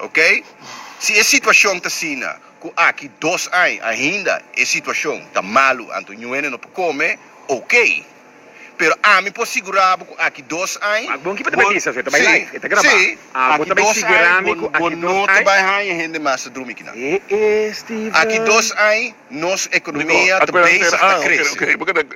Ok. Si e situacion ta asina cu aki dos añ ainda e situacion ta malu anto ñu hende no por come, ok. Pero ami por sigura bo cu aki dos añ bo, si, aki dos añ bo no ta bay haña hende mas ta drumi kinan. Aki dos añ. Nos economia ta bezig ta crece.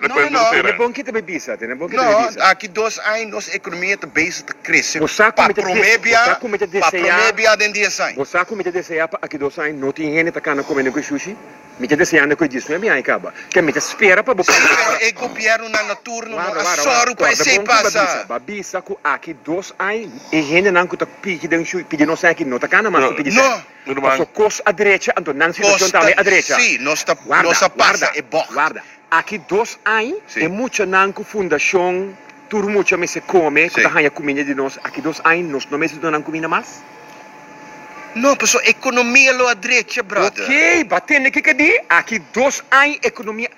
No, no, no. Tene bon kita be bisa, tene bon kita be bisa. No, aki dos aña nos economia ta bezig ta crece pa prome bia, pa prome bia den dies aña. Bo sa cu mi ta desea pa aki dos aña no tin hende ta cana come necu e sushi? Mi ta desea necu e diesnuebe aña caba. Ke mi ta spera pa bo cambia. Pero e gobiernonan na turno no a sòru pa esey pasa. Ba bisa cu aki dos aña e hendenan cu ta piki den sushi, pidi nos aña aki no ta cana mas pa pidi sa. Tur man. Paso cos a drecha anto nan situacion tambe a drecha. Costa, si, nos ta, nos a pasa e bocht. Guarda, guarda, guarda. Aki dos ain e muchanan cu fundacion Tur Mucha Mester Come cu ta haya cuminda di nos, aki dos ain nos no mester donan cuminda mas? No, paso economia lo a drecha, brother. Oké, ba tende ke ka di aki dos ain economia.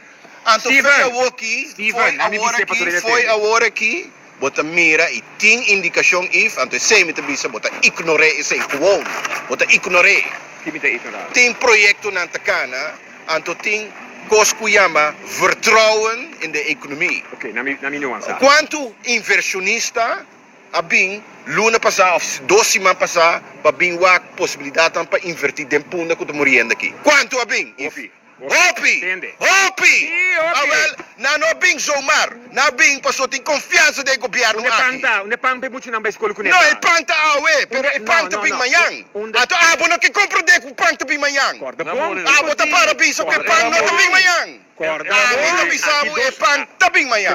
Anto foi awoki, foi aworaki, foi aworaki. Bo ta mira y tin indicacion if, anto esey mi ta bisa bo ta ignor'e esey, gewoon bo ta ignor'e. Tin mi ta ignor'e. Tin proyectonan ta cana, anto tin cos cu yama vertrouwen in de economie. Ok, na mi, na mi nuansa. Cuanto inversionista a bin luna pasa of dos siman pasa pa bin wak posibilidadnan pa inverti den punda cu ta muriendo aki? Cuanto a bin if? Hopi! Hopi! Awel, nan no a bin zomaar. Nan a bin pasobra tin konfiansa den e gobièrnu aki. No, e pan ta awe, pero e pan ta bin mañan. Anto abo no ke komprondé ku pan ta bin mañan. Abo ta para bisa ku e pan no ta bin mañan. Ami ta bisa bo, e pan ta bin mañan.